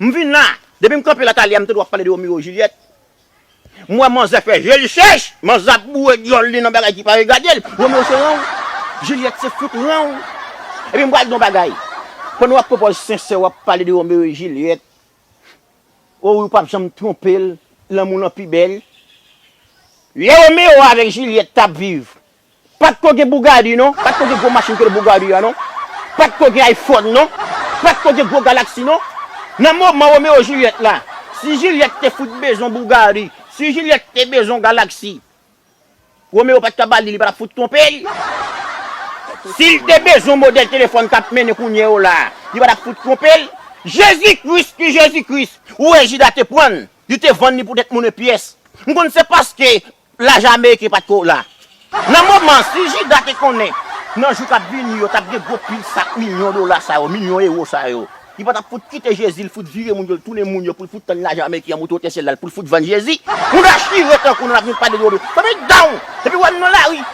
M vin la! Depi m kanpe la Thalia m tande wap pale de Romeo Juliette M wè manzè fè je l chèch Manzè ap boure dyòl li nan bagay ki pa regade l Romeo se ranw Juliette se fout ranw Epi m pral di w yon bagay Pandan wap pran pòz sensè wap pale de Romeo et Juliette O wi ou pap janm twonpe l Lanmou lan pi bèl Lè Romeo avèk Juliette tap viv Pat ko gen Bugatti non, pat ko gen gwo machin ke Bugatti a non, pat ko gen iPhone non, pat ko gen gwo Galaxy non. Nan moman Roméo Juliette la, si Juliette te fout bezwen Bugatti, si Juliette te bezwen Galaxy, Roméo pat ka ba li, li pa tap fout twonpe l. Si l te bezwen modèl telefòn kap mennen kounye yo la, li pa tap fout twonpe l. Jezi Kris ki Jezi Kris, ou wè Jida te pran l, li te vann li pou 2 t moune pyès. M konn se paske Lajan ameriken pa t ko la. Nan moman an, si Jida te konnen nan jou k ap vini yo t ap gen gwo pil sak milyon dola sa yo, milyon ewo sa yo, li pa t ap fout kite Jezi, l fout vire moun yo, l tounen moun yo pou l fout tann lajan ameriken an moute otè syèl la pou l fout vann Jezi. Moun a chire tankou nou n ap vin pale de yo. Fanmi down! Depi w wè m nan lari,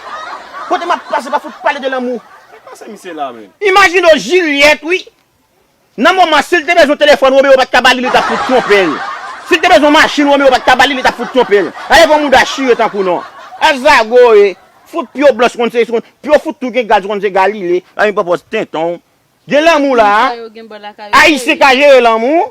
kote m ap pase pa fout pale de lanmou. Kisa misye la menm? Imajine w Jilyèt wi, Nan moman si l te bezwen telefòn Romero pat ka ba li li tap fout twonpe l. Si l te bezwen machin Romero pat ka ba li li tap fout twonpe l. Gade kon mouda chire tankou non. Al zago e. Fout pio blanch konn se konn pio fout tou gen gaz ou konn se galile. Anyn pòpòz tenten w. Gen lanmou la a. Ayisyen ka jere lanmou.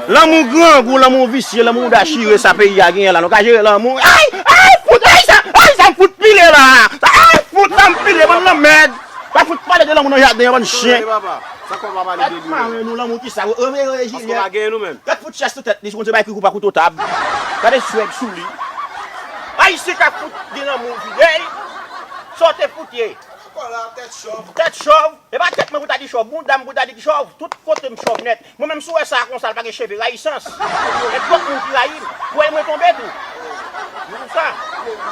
Lanmou grangou lanmou visye lanmou mouda chire sa peyi a genyen la nou ka jere lanmou. Ayy ayy fout ayy sa ayy sa m fout pile la a ayy fout sa m pile bann lanmèd. Pa fout pale de lanmou nan jaden an bann chyen. Gad mare nou lanmou kisa Romero et Juliette. Gad fout chès sou tèt li si Bondye bay Kriko pa kouto tab. Gade swèg sou li. Ayisyen ka fout gen lanmou videy. Saw te fout ye. Tèt chòv. Tèt chòv. E pa tèt mwen pou ta di chòv. Boudam pou ta di ki chòv. Tout kotem chòv nèt. Mwen menm si w wè sa konsa l pa gen cheve rayisans e twòp moun ki rayi m kwè mwen tonbe tou nan sa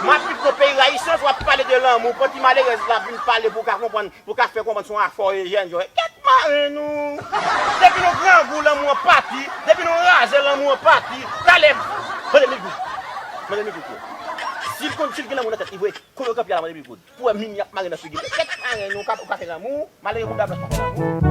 m ap viv nan peyi rayisans w ap pale de lanmou pou ti malerèz la vin pale pou w ka konprann pou w ka fè konprann se yon afè w e jèn jòj kèt mare nou depi nou grangou lanmou an pati depi nou raze lanmou an pati talè mande migoud mande migoud si l konn si l gen lanmou nan tèt li vre kolo kanpe a la mande migoud. Ou wè min yap mare nan figi li. Kèt marenn ou ka fè lanmou. Malere bouda blanch pa fè lanmou.